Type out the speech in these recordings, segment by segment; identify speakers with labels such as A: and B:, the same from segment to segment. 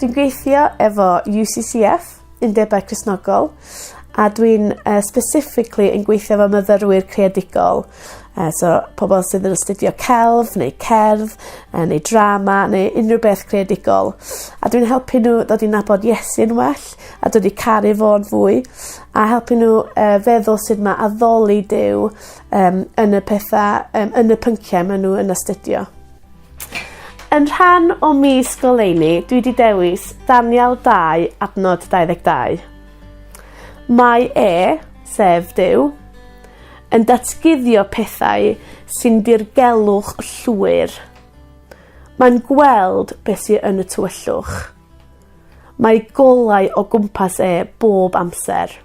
A: Dwi'n gweithio efo You See See Eff Undebau Cristnogol a dwi'n yy specifically yn gweithio efo myfyrwyr creadigol yy so pobol sydd yn astudio celf neu cerdd yy neu drama neu unryw beth creadigol a dwi'n helpu n'w ddod i nabod Iesu'n well a dod i caru fo'n fwy a helpu n'w yy feddwl sut ma' addoli Duw yym yn y petha yym yn y pyncie ma' n'w yn astudio. Yn rhan o mis goleuni dwi 'di dewis Daniel dau adnod dau ddeg dau. Mae e, sef Duw, yn datguddio pethau sy'n dirgelwch llwyr. Mae'n gweld be' sy yn y tywyllwch. Mae golau o gwmpas e bob amser.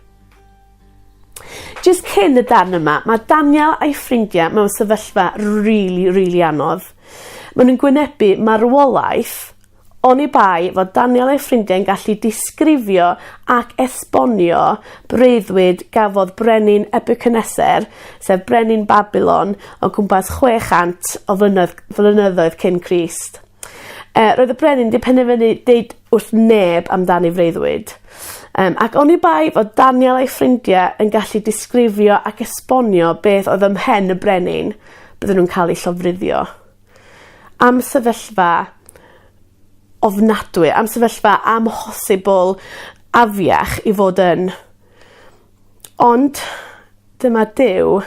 A: Jyst cyn y darn yma ma' Daniel a'i ffrindia mewn sefyllfa rili rili anodd. Ma' nw'n gwynebu marwolaeth oni bai fod Daniel a'i ffrindiau'n gallu disgrifio ac esbonio breuddwyd gafodd brenin Nebiwcaneser sef brenin Babilon o gwmpas chwe chant o flynoedd flynyddoedd cyn Crist. Yy roedd y brenin 'di penderfynu deud wrth neb amdani freuddwyd. Yym ac oni bai fod Daniel a'i ffrindie yn gallu disgrifio ac esbonio beth odd ym mhen y brenin bydden nw'n ca'l eu llofruddio. Am sefyllfa ofnadwy am sefyllfa amhosibl afiach i fod yn Ond dyma Duw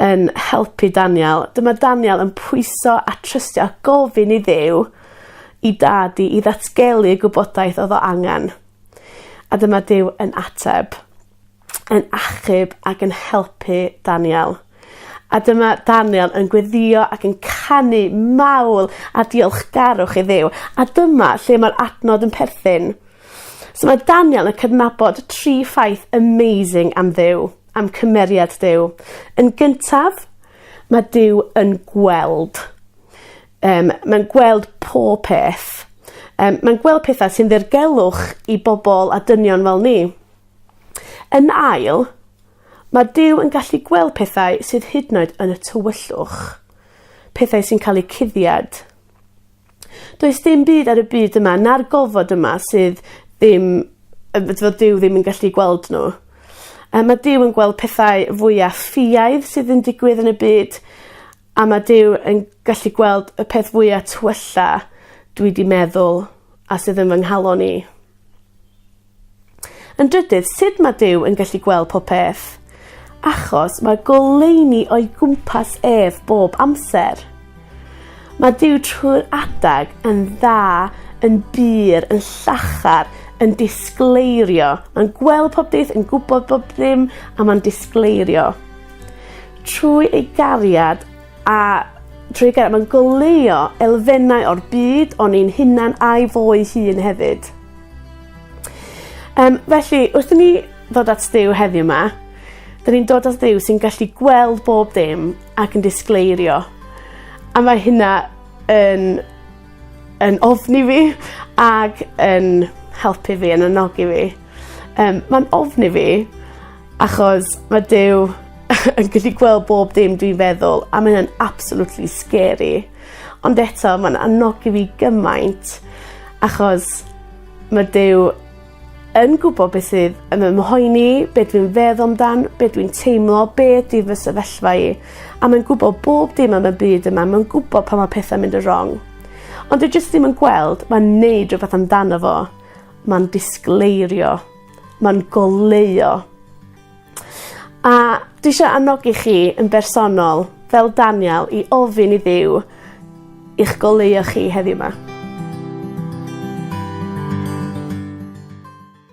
A: yn helpu Daniel. Dyma Daniel yn pwyso a trystio a gofyn i Dduw 'i dad 'i i ddatgelu y gwybodaeth odd o angan. A dyma Duw yn ateb. Yn achub ac yn helpu Daniel. A dyma Daniel yn gweddïo ac yn canu mawl a diolchgarwch i Dduw. A dyma lle mae'r adnod yn perthyn. So mae Daniel yn cydnabod tri ffaith amazing am Dduw, am cymeriad Duw. Yn gyntaf, mae Duw yn gweld. Um, mae'n gweld pob peth. Um, mae'n gweld pethau sy'n ddirgelwch i bobl a dynion fel ni. Yn ail, Mae Duw yn gallu gweld pethau sydd hyd yn oed yn y tywyllwch. Pethau sy'n cael eu cuddiad. Does dim byd ar y byd yma na'r gofod yma sydd ddim yy fod fod Duw ddim yn gallu gweld n'w. Yy ma' Duw yn gweld pethau fwya ffiaidd sydd yn digwydd yn y byd a ma' Duw yn gallu gweld y peth fwya twylla dwi 'di meddwl a sydd yn fy nghalon i. Yn drydydd, sut mae Duw yn gallu gweld popeth? Achos mae goleuni o'i gwmpas ef bob amser. Mae Duw trwy'r adag yn dda, yn bur, yn llachar, yn disgleirio. Mae'n gweld pob beth, yn gwybod bob dim, a mae'n disgleirio. Trwy ei gariad A trwy gera- ma'n goleuo elfennau o'r byd o'n ni'n hunan a'i fo ei hun hefyd. Yym felly wrth i ni ddod at Duw heddiw 'ma 'dyn ni'n dod at Dduw sy'n gallu gweld bob dim ac yn disgleirio. A mae hynna yn yn ofni fi ag yn helpu fi yn annogi fi. Yym ma'n ofni fi Achos ma' Duw yn gallu gweld bob dim dwi'n feddwl a mae o'n absolutely scary. Ond eto ma'n anogi fi gymaint achos ma' Duw yn gwbo be' sydd yn fy mhoeni be' dwi'n feddwl amdan be' dwi'n teimlo be' 'di fy sefyllfa i a mae'n gwbo bob dim am y byd yma ma'n gwbo pan ma' pethe'n mynd yn rong. Ond dwi jyst ddim yn gweld ma'n neud rwbeth amdano fo. Ma'n disgleirio. Ma'n goleuo. A dwi isio annogi chi yn bersonol fel Daniel i ofyn i Dduw i'ch goleuo chi heddiw 'ma.